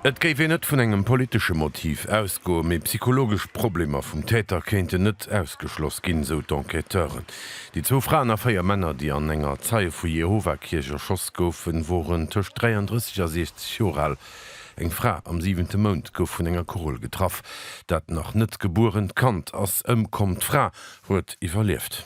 Et géif een net vun engem politesche Motiv ausgoen, mee psychologesch Problemer vum Täter kéinten net ausgeschloss ginn, sou d'Enquêteuren. Déi zwou Fraen a véier Männer, déi an enger Zeie vu Jehova-Kierch erschoss goufen, woren tëscht 33 a 60 Joer al. Eng Fra am siwente Mount gouf vun enger Kugel getraff. Dat nach net gebuerent Kand ass ëmkomm, d'Fra huet iwwerlieft.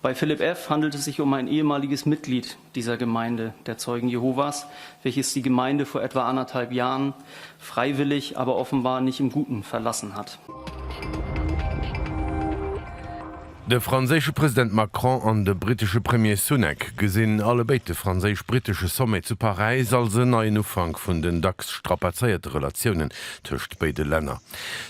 Bei Philipp F. handelt es sich um ein ehemaliges Mitglied dieser Gemeinde der Zeugen Jehovas, welches die Gemeinde vor etwa anderthalb Jahren freiwillig, aber offenbar nicht im Guten, verlassen hat. De franséische President Macron an de brittesche Premier Sunak gesinn allebéid de franséisch-brittesche Sommet zu Paräis als en neien Ufank vun den dacks strapazéierte Relatiounen tëscht béide Länner.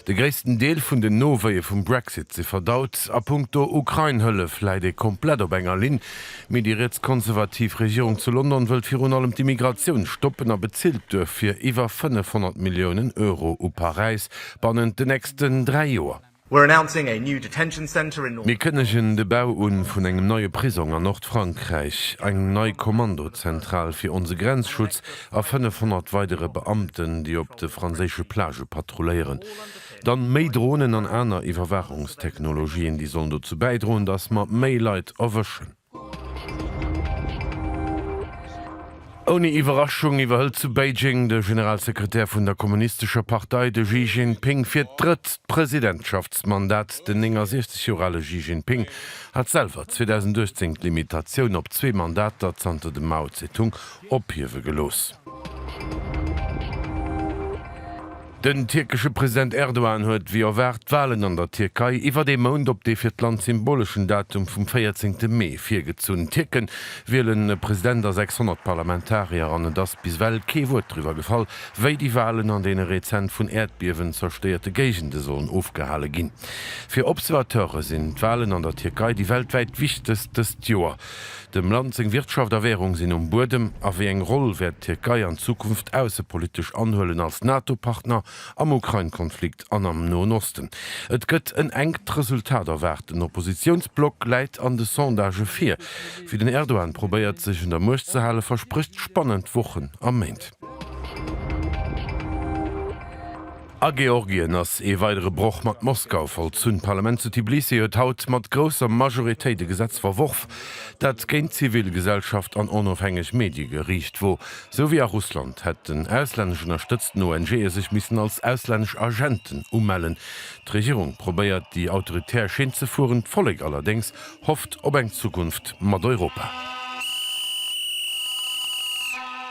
De gréissten Deel vun den Nowéie vum Brexit si verdaut. A punkto Ukrain-Hëllef läit ee komplett op enger Linn. Mee déi rietskonservativ Regierung zu London wëllt virun allem d'Immigratioun stoppen a bezilt duerfir iwwer 500 Milliounen Euro u Paräis bannent den nächsten dräi Joer. Mir kënnegen de Bau un vun engem neie Prisong an Nordfrankräich, eng nei Kommandozentral fir onse Grenzschutz a 500 weidere Beamten, déi op de franséische Plagë patrulléieren. Dann méi Dronen an aner Iwwerwaachungstechnologien, déi sollen dozou bäidroen, dass mer méi Leit erwëschen. Ouni Iwwerraschung iwwerhëlt zu Beijing de Generalsekretär vun der kommunistescher Partei, de Xi Jinping, fir d'drëtt Presidentschaftsmandat. Den 69 Joer ale Xi Jinping hat selwer 2018 d'Limitatioun op zwee Mandater zanter dem Mao Tse-tung ophiewe gelooss. Den tierkesche President Erdogan huet wéi erwaart d'Walen an der Tierkei iwwert ee Mount op dee fir d'Land symboleschen Datum vum 14 Mee virgezunn. D'Tierke wielen e President a 600 Parlamentarier an et ass bis ewell kee Wuert driwwer gefall, wéi déi Walen an deene rezent vun Äerdbiewen zerstéierte Géigende sollen ofgehale ginn. Fir Observateure sinn d'Walen an der Tierkei déi weltwäit wichtegst dëst Joer. Dem Land seng Wirtschaft a Währung sinn um Buedem. A wéi eng Roll wäert d'Tierkei an Zukunft aussepolitesch anhuelen, als NATO-Partner, am Ukrain-Konflikt an am Noen Osten? Et gëtt en enkt Resultat erwaart. Den Oppositiounsblock läit an de Sondagë vir. Wéi den Erdogan probéiert, sech un der Muecht ze halen, versprécht spannend Wochen a Méint. A Georgien ass ee weidere Broch mat Moskau vollzunn. D'Parlament zu Tbilisi huet haut mat grousser Majoritéit e Gesetz verworf, dat géint d'zivil Gesellschaft an onofhängeg Medie geriicht wor. Sou wéi a Russland hätten auslännesch ënnerstëtzten ONGe sech missen als auslännesch Agenten umellen. D'Regierung probéiert déi autoritär Schinn ze fueren, d'Vollek allerdéngs hofft op eng Zukunft mat Europa.